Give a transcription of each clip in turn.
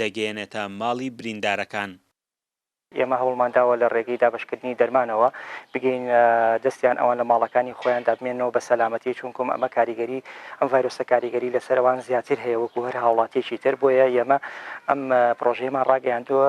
دەگەیەنێتە ماڵی بریندارەکان. ئێمە هەوڵمان داوە لە ڕێگەی دابەشکردنی دەرمانەوە بگەینە دەستیان ئەوان لە ماڵەکانی خۆیاندا بمێننەوە بە سەلامەتی چونکم ئەمە کاریگەری ئەم ڤایرۆسە کاریگەری لەسەر ئەوان زیاتر هەیە وەکو هەر هاوڵاتیەکی تر بۆیە ئێمە ئەم پرۆژەیەمان ڕاگەیاندووە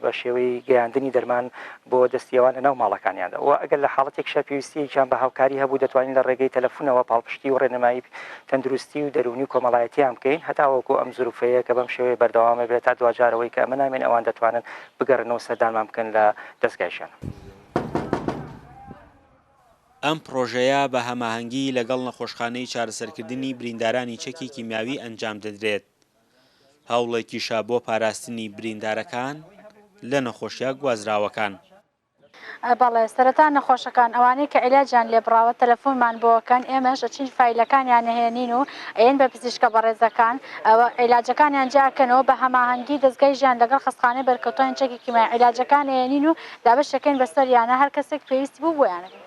بە شێوەی گەیاندنی دەرمان بۆ دەستی ئەوان لەناو ماڵەکانیاندا و ئەگەر لە حاڵەتێکیشا پێویستییەکیان بە هاوکاری هەبوو دەتوانین لە ڕێگەی تەلەفونەوە پاڵپشتی و ڕێنمایی تەندروستی و دەروونی و کۆمەڵایەتییان بکەین هەتاوەکو ئەم زروفەیە کە بەم شێوەیە بەردەوامە بێت تا دواجارەوەی کە ئەمە نامێن ئەوان دەتوانن بگەڕێنەوە و سەردانمان بکەن لە دەزگای ژیان. ئەم پڕۆژەیە بە هەماهەنگی لەگەڵ نەخۆشخانەی چارەسەرکردنی بریندارانی چەکی کیمیاوی ئەنجام دەدرێت. هەوڵێکیشە بۆ پاراستنی بریندارەکان لە نەخۆشییە گوازراوەکان. بەڵێ سەرەتا نەخۆشەکان ئەوانەی کە عیلاجیان لێبڕاوە تەلەفونمان بۆکەن ئێمەش ئەچین فایلەکانیان ئەهێنین و ئەیەن بە پزیشکە بەڕێزەکان ئەوە عیلاجەکانیان جیاکەنەوە بە هەماهەنگی دەزگای ژیان لەگەڵ خەستخانەی بەرکەوتانی چەکی کیمای عیلاجەکان ئەیەنین و دابەشیەکەین بەسەریانا هەر کەسێک پێویستی بوو بۆیان ئەبێ.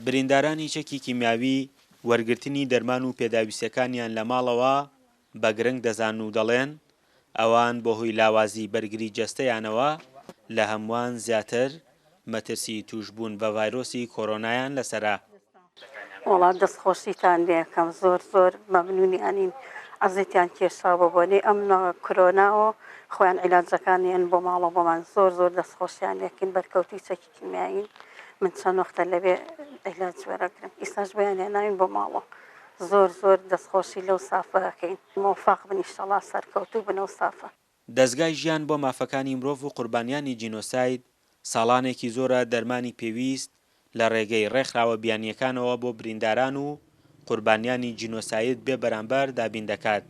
بریندارانی چەکی کیمیاوی وەرگرتنی دەرمان و پێداویستیەکانیان لە ماڵەوە بە گرنگ دەزان و دەڵێن، ئەوان بەهۆی لاوازی بەرگری جەستەیانەوە لە هەمووان زیاتر مەترسی تووشبوون بە ڤایرۆسی کۆرۆنایان لەسەرە. وەڵا دەست خۆشیتان لێکەم زۆر زۆر مەمنونی ئەنین عەزێتیان کێشا بۆ بۆنەی ئەم کرۆناۆ خۆیان عیلاجەکانیان بۆ ماڵەوە بۆمان زۆر زۆر دەست خۆشیان لێکەین بەرکەوتوی چەکی. کیمیایی من چەند وەختە لەوێ عیلاج وەرەگرم ئیساش بۆیان هێناوین بۆ ماڵۆ زۆر زۆر دەستخۆشی لەو سافە ئەکەین مۆفاق بن ئیشەڵا سەرکەوتوو بن ئەو سافە. دەزگای ژیان بۆ مافەکانی مرۆڤ و قوربانیانی جینۆساید ساڵانێکی زۆرە دەرمانی پێویست لە ڕێگەی ڕێکخراوە بیانییەکانەوە بۆ برینداران و قوربانیانی جینۆساید بێ بەرامبەر دابین دەکات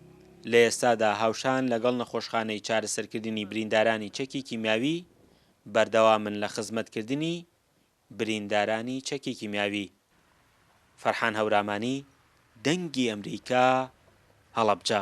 لە ئێستادا هاوشان لەگەڵ نەخۆشخانەی چارەسەرکردنی بریندارانی چەکی کیمیاوی بەردەوامن لە خزمەتکردنی بریندارانی چەکی کیمیاوی. فەرحان هەورامانی، دەنگی ئەمریکا، هەڵەبجە.